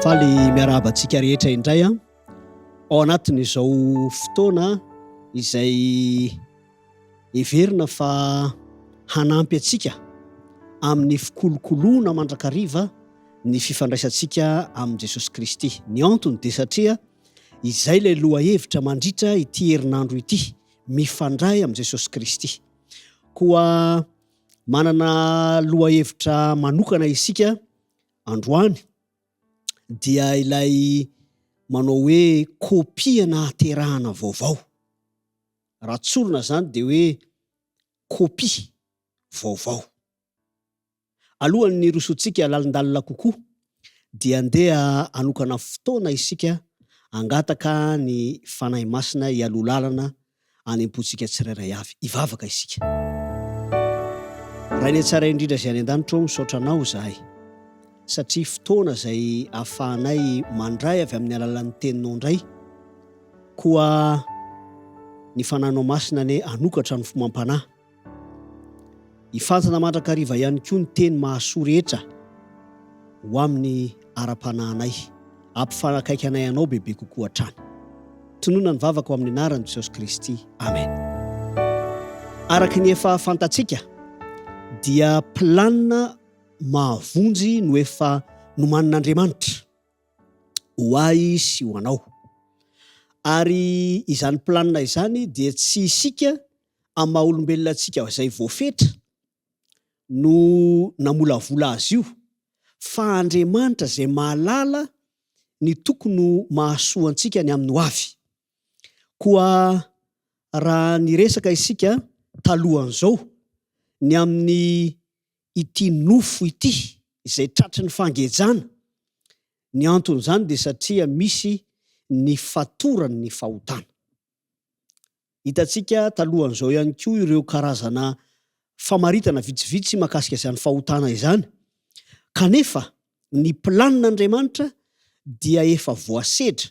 Faly miarahaba antsika rehetra indray an. Ao anatin'izao fotoana izay heverina fa hanampy antsika amin'ny fikolokoloana mandrakariva ny fifandraisantsika amin'i Jesosy Kristy. Ny antony dia satria izay ilay lohahevitra mandritra ity herinandro ity. mifandray amin'i Jesosy Kristy. Koa manana lohahevitra manokana isika androany dia ilay manao hoe kopia nahaterahana vaovao. Raha tsorina izany dia hoe kopia vaovao. Alohan'ny hirosoantsika lalindalina kokoa dia andeha hanokana fotoana isika hangataka ny Fanahy Masina hialoha lalana any am-pontsika tsirairay avy. Hivavaka isika. Rainay Tsara Indrindra izay any an-danitra ô, misaotra Anao izahay satria fotoana izay ahafahanay mandray avy amin'ny alalan'ny Teninao indray. Koa ny Fanahinao Masina anie hanokatra ny fomam-panahy. Hifantina mandrakariva ihany koa ny teny mahasoa rehetra ho amin'ny ara-panahinay, hampifanakaiky anay anao bebe kokoa hatrany. Tononina ny vavaka ao amin'ny anaran'i Jesosy Kristy. Amen. Araka ny efa fantatsika dia planina mahavonjy no efa nomanin'Andriamanitra ho ahy sy ho anao. Ary izany planina izany dia tsy isika amin'ny maha olombelona antsika izay voafetra no namolavola azy io fa Andriamanitra izay mahalala ny tokony ho mahasoa antsika ny amin'ny hoavy. Koa raha niresaka isika talohan'izao ny amin'ny ity nofo ity izay tratry ny fangejana, ny anton'izany dia satria misy ny fatoran'ny fahotana. Hitantsika talohan'izao ihany koa ireo karazana famaritana vitsivitsy mahakasika izany fahotana izany. Kanefa, ny planin'Andriamanitra dia efa voasedra,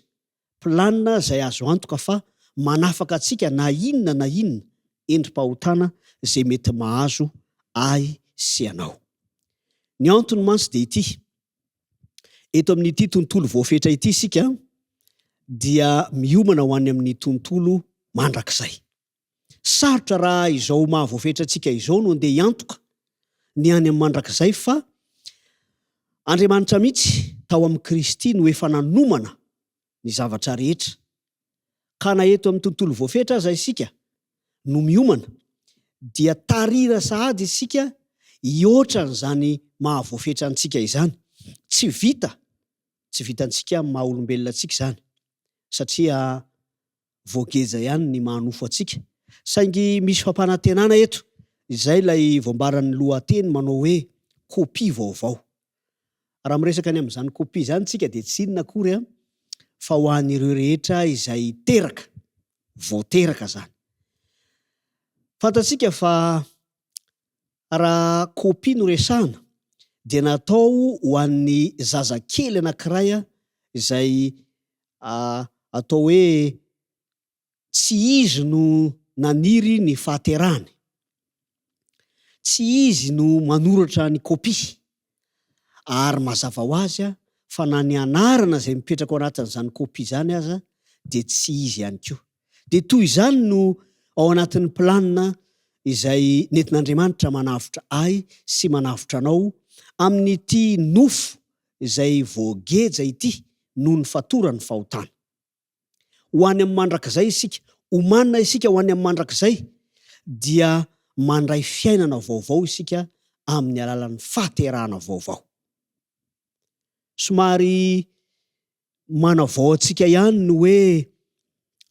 planina izay azo antoka fa manafaka antsika na inona na inona endri-pahotana izay mety mahazo ahy sy ianao. Ny antony mantsy dia ity, Eto amin'ity tontolo voafetra ity isika dia miomana ho any amin'ny tontolo mandrakizay. Sarotra raha izao maha voafetra antsika izao no andeha hiantoka ny any amin'ny mandrakizay fa Andriamanitra mihitsy tao amin'i Kristy no efa nanomana ny zavatra rehetra, ka na eto amin'ny tontolo voafetra aza isika no miomana, dia tarira sahady isika hihoatra an'izany maha voafetra antsika izany. Tsy vita, tsy vitantsika amin'ny maha olombelona antsika izany, satria Voageja ihany ny maha nofo antsika. Saingy misy fampanantenana eto, izay ilay voambaran'ny lohateny manao hoe kopia vaovao. Raha miresaka ny amin'izany kopia izany isika dia tsy inona akory fa ho an'ireo rehetra izay teraka, vao teraka izany. Fantatsika fa Raha kopia no resahana dia natao ho an'ny zazakely anankiray izay atao hoe tsy izy no naniry ny fahaterahany. Tsy izy no manoratra ny kopia. Ary mazava ho azy fa na ny anarana izay mipetraka ao anatin'izany kopia izany aza dia tsy izy ihany koa. Dia toy izany no ao anatin'ny planina izay nentin'Andriamanitra manavotra ahy sy manavotra anao amin'ity nofo izay voageja ity noho ny fatoran'ny fahotana. ho any amin'ny mandrakizay isika, omanina isika ho any amin'ny mandrakizay, dia mandray fiainana vaovao isika amin'ny alalan'ny fahaterahana vaovao. Somary manavao antsika ihany ny hoe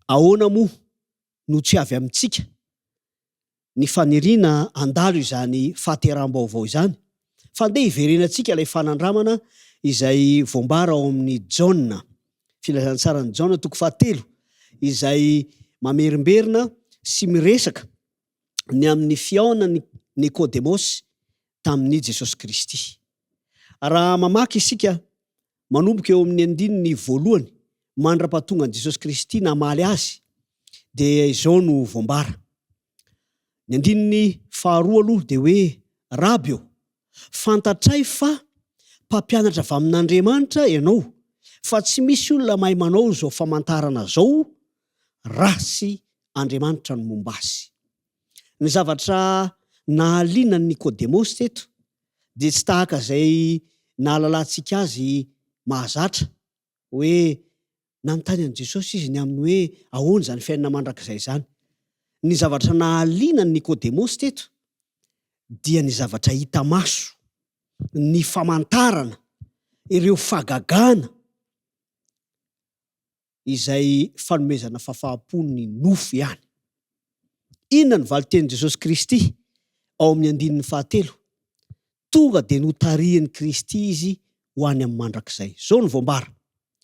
ahoana moa no tsy avy amintsika ny faniriana handalo izany fahateraham-baovao izany, fa andeha hiverenantsika ilay fanandramana izay voambara ao amin'ny Jaona, Filazantsaran'i Jaona toko fahatelo, izay mamerimberina sy miresaka ny amin'ny fihaonan'i Nikodemosy tamin'i Jesosy Kristy. Raha mamaky isika manomboka eo amin'ny andininy voalohany mandra-pahatongan'i Jesosy Kristy namaly azy dia izao no voambara. Ny andininy faharoa aloha dia hoe, Raby ô, fantatray fa mpampianatra avy amin'Andriamanitra ianao, fa tsy misy olona mahay manao izao famantarana izao raha tsy Andriamanitra no momba azy. Ny zavatra nahaliana an'i Nikodemosy teto dia tsy tahaka izay nahalalantsika azy mahazatra, hoe nanontany an'i Jesosy izy ny amin'ny hoe ahoana izany fiainana mandrakizay izany. Ny zavatra nahaliana an'i Nikodemosy teto dia ny zavatra hita maso, ny famantarana, ireo fagagana, izay fanomezana fafaham-po ny nofo ihany. Inona no valin-tenin'i Jesosy Kristy ao amin'ny andininy fahatelo? Tonga dia notarihin'i Kristy izy ho any amin'ny mandrakizay. Izao no voambara,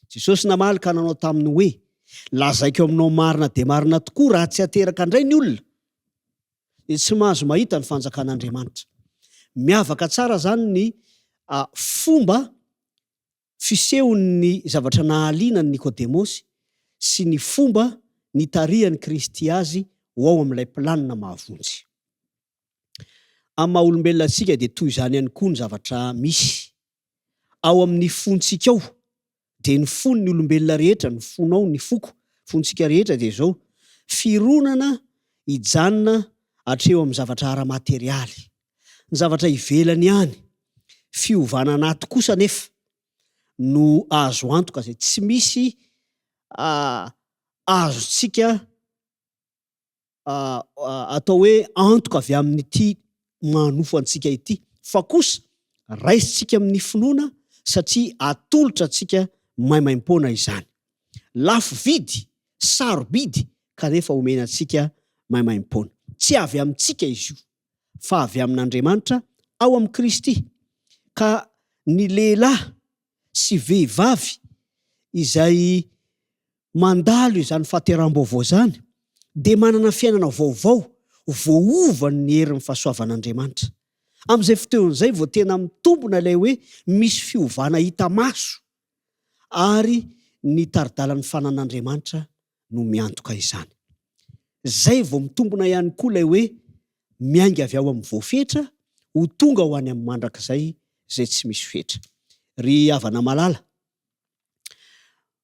Jesosy namaly ka nanao taminy hoe, Lazaiko aminao marina dia marina tokoa, raha tsy ateraka indray ny olona, dia tsy mahazo mahita ny fanjakan'Andriamanitra. Miavaka tsara izany ny fomba fisehon'ny zavatra nahaliana an'i Nikodemosy sy ny fomba nitarihan'i Kristy azy ho ao amin'ilay planina mahavonjy. Amin'ny maha-olombelona antsika dia toy izany ihany koa ny zavatra misy ao amin'ny fontsika ao, dia ny fon'ny olombelona rehetra, ny fonao, ny foko, fontsika rehetra dia izao, fironana hijanona hatreo amin'ny zavatra ara-materialy. ny zavatra ivelany ihany, fiovana anaty kosa anefa no azo antoka izay tsy misy azontsika atao hoe antoka avy amin'ity manofo antsika ity fa kosa raisintsika amin'ny finoana satria atolotra antsika maimaim-poana izany. Lafo vidy, sarobidy kanefa omena antsika maimaim-poana. Tsy avy amintsika izy io. fa avy amin'Andriamanitra ao amin'i Kristy, ka ny lehilahy sy vehivavy izay mandalo izany fahateraham-baovao izany dia manana fiainana vaovao voaovan'ny herin'ny fahasoavan'Andriamanitra. Amin'izay fotoana izay vao tena mitombona ilay hoe misy fiovana hita maso ary ny tari-dalan'ny fananan'Andriamanitra no miantoka izany. Izay vao mitombona ihany koa ilay hoe miainga avy ao amin'ny voafetra ho tonga ho any amin'ny mandrakizay izay tsy misy fetra. Ry havana malala,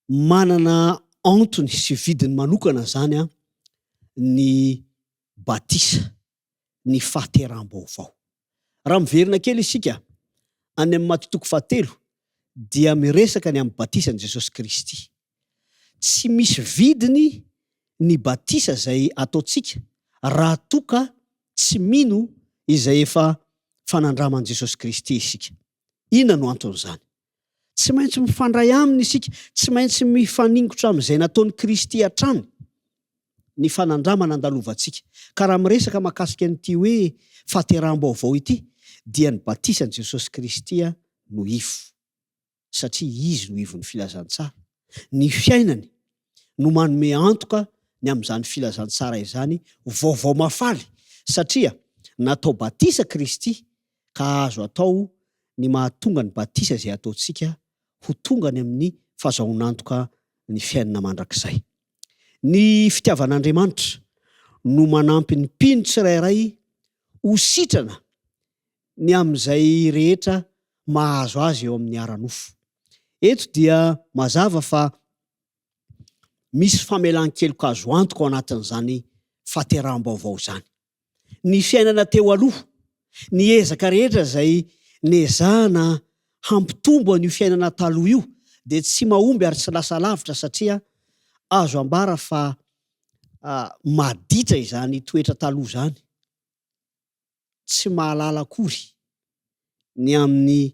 manana antony sy vidiny manokana izany ny batisa. ny fahateraham-baovao. Raha miverina kely isika any amin'ny Maty toko fahatelo dia miresaka ny amin'ny batisan'i Jesosy Kristy. Tsy misy vidiny ny batisa izay ataontsika raha toa ka tsy mino izay efa fanandraman'i Jesosy Kristy isika. Inona no anton'izany? Tsy maintsy mifandray aminy isika, tsy maintsy mifaningotra amin'izay nataon'i Kristy hatrany ny fanandramana andalovantsika. Ka raha miresaka mahakasika an'ity hoe fahateraham-baovao ity, dia ny batisan'i Jesosy Kristy no ivo, satria Izy no ivon'ny filazantsara, ny fiainany no manome antoka ny amin'izany filazantsara izany ho vaovao mahafaly, satria natao batisa Kristy ka azo atao ny mahatonga ny batisa izay ataontsika ho tonga any amin'ny fazahoan'antoka ny fiainana mandrakizay. Ny fitiavan'Andriamanitra no manampy ny mpino tsirairay ho sitrana ny amin'izay rehetra mahazo azy eo amin'ny ara-nofo. Eto dia mazava fa Misy famelan-keloka azo antoka ao anatin'izany fahateraham-baovao izany. Ny fiainana teo aloha, ny ezaka rehetra izay nezahana hampitombo an'io fiainana taloha io dia tsy mahomby ary tsy lasa lavitra satria azo ambara fa maditra izany toetra taloha izany. Tsy mahalala akory ny amin'ny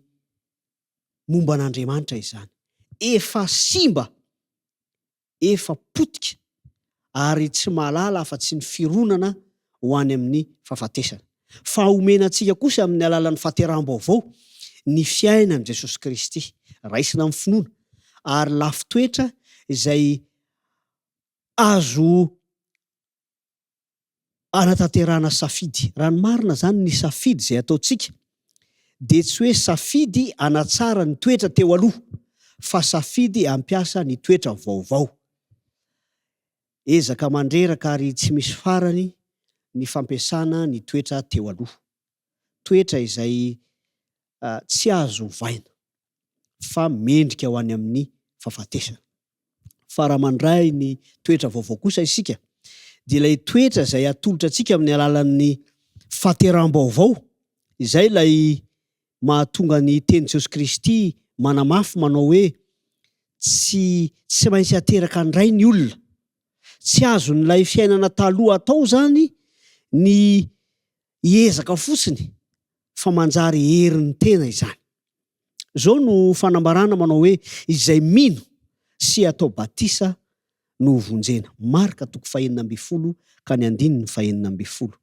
momba an'Andriamanitra izany. Efa simba, efa potika ary tsy mahalala afa-tsy ny fironana ho any amin'ny fahafatesana. Fa omena antsika kosa amin'ny alalan'ny fahateraham-baovao ny fiainan'i Jesosy Kristy, raisina amin'ny finoana, ary lafin-toetra izay azo hanatanterahana safidy. Raha ny marina izany, ny safidy izay ataontsika dia tsy hoe safidy hanatsara ny toetra teo aloha, fa safidy hampiasa ny toetra vaovao. Ezaka mandreraka ary tsy misy farany ny fampiasana ny toetra teo aloha, toetra izay tsy azo ovaina. fa mendrika ho any amin'ny fahafatesana. Fa raha mandray ny toetra vaovao kosa isika, dia ilay toetra izay atolotra antsika amin'ny alalan'ny fahateraham-baovao, izay ilay mahatonga ny tenin'i Jesosy Kristy manamafy manao hoe, Tsy tsy maintsy hateraka indray ny olona. Tsy azon'ilay fiainana taloha atao izany ny hiezaka fotsiny fa manjary herin'ny tena izany. Izao no fanambarana manao hoe izay mino sy atao batisa no ho vonjena, Marka toko fahenina ambin'ny folo ka ny andininy fahenina ambin'ny folo.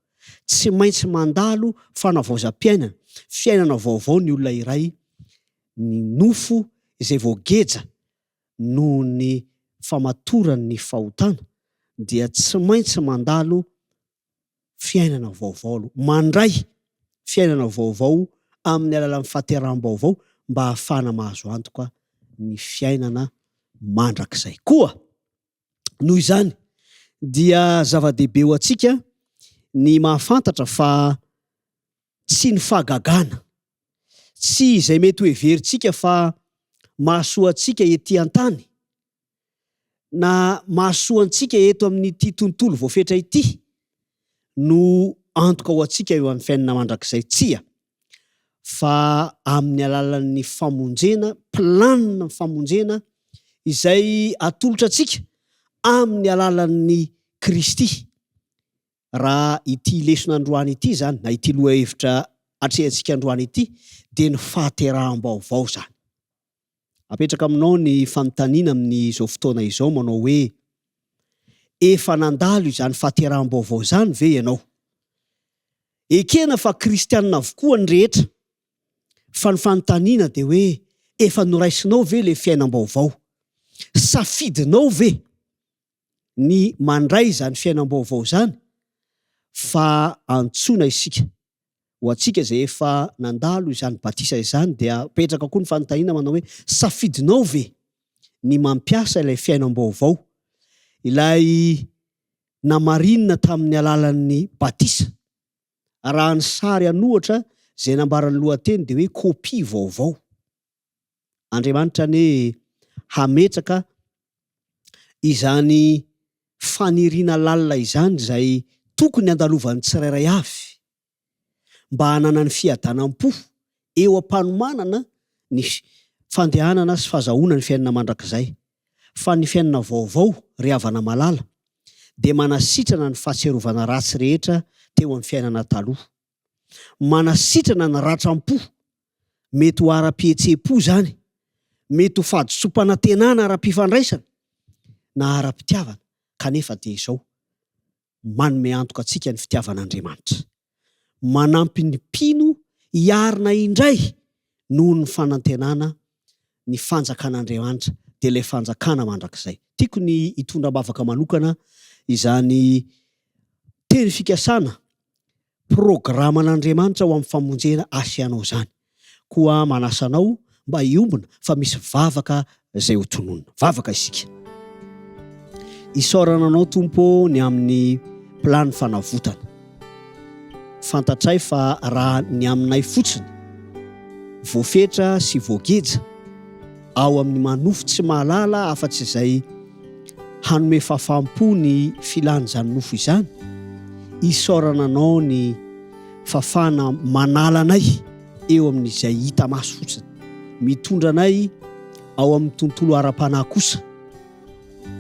Tsy maintsy mandalo fanavaozam-piainana, fiainana vaovao ny olona iray, ny nofo izay voageja noho ny famatoran'ny fahotana dia tsy maintsy mandalo fiainana vaovao aloha, mandray fiainana vaovao amin'ny alalan'ny fahateraham-baovao mba hahafahana mahazo antoka ny fiainana mandrakizay. Koa noho izany dia zava-dehibe ho antsika ny mahafantatra fa tsy ny fahagagana, tsy izay mety hoheverintsika fa mahasoa antsika ety an-tany na mahasoa antsika eto amin'ity tontolo voafetra ity no antoka ho antsika eo amin'ny fiainana mandrakizay? Tsia, fa amin'ny alalan'ny famonjena, planina famonjena izay atolotra antsika amin'ny alalan'ny Kristy. Raha ity lesona androany ity izany, na ity lohahevitra atrehantsika androany ity, dia ny fahateraham-baovao izany. Apetraka aminao ny fanontaniana amin'izao fotoana izao manao hoe, Efa nandalo izany fahateraham-baovao izany ve ianao? Ekena fa kristianina avokoa ny rehetra, fa ny fanontaniana dia hoe, efa noraisinao ve ilay fiainam-baovao? Safidinao ve ny mandray izany fiainam-baovao izany fa antsoina isika. Ho antsika izay efa nandalo izany batisa izany dia mipetraka koa ny fanontaniana manao hoe, safidinao ve ny mampiasa ilay fiainam-baovao, ilay namarinina tamin'ny alalan'ny batisa? Arahan'ny sary an'ohatra, izay nambaran'ny lohateny dia hoe kopia vaovao. Andriamanitra anie hametraka izany faniriana lalina izany izay tokony handalovan'ny tsirairay avy mba hananany fiadanam-po eo am-panomanana ny fandehanana sy fazahoana ny fiainana mandrakizay. Fa ny fiainana vaovao, ry havana malala, dia manasitrana ny fahatsiarovana ratsy rehetra teo amin'ny fiainana taloha. Manasitrana ny ratram-po. Mety ho ara-pihetseham-po izany, mety ho fahadisoam-panantenana ara-pifandraisana na ara-pitiavana, kanefa dia izao, manome antoka antsika ny fitiavan'Andriamanitra. Manampy ny mpino hiarina indray noho ny fanantenana ny fanjakan'Andriamanitra dia ilay fanjakana mandrakizay. Tiako ny hitondra am-bavaka manokana izany teny fikasana programan'Andriamanitra ho amin'ny famonjena asianao izany. Koa manasa anao mba hiombona fa misy vavaka izay ho tononina. Vavaka isika. Isaorana anao Tompo ny amin'ny plan'ny fanavotana. Fantatray fa raha ny aminay fotsiny, voafetra sy voageja ao amin'ny manofo tsy mahalala afa-tsy izay hanome fafam-po ny filan'izany nofo izany, isaorana anao ny fafana manala anay eo amin'izay hita maso fotsiny, mitondra anay ao amin'ny tontolo ara-panahy kosa.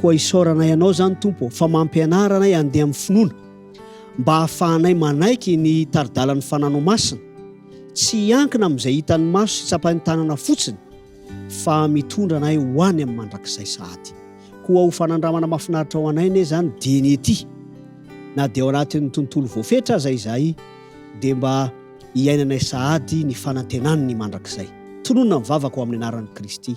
Koa isaoranay Anao izany, Tompo ô, fa mampianara anay handeha amin'ny finoana, mba hahafahanay manaiky ny tari-dalan'ny fananao masina, tsy hiankina amin'izay hitan'ny maso sy tsapain'ny tanana fotsiny, fa mitondra anay ho any amin'ny mandrakizay sahady. Koa ho fanandramana mahafinaritra ho anay anie izany dia ny ety, na dia ao anatin'ny tontolo voafetra aza izahay, dia mba hiainanay sahady ny fanantenan'ny mandrakizay. Tononina ny vavaka ho amin'ny anaran'i Kristy.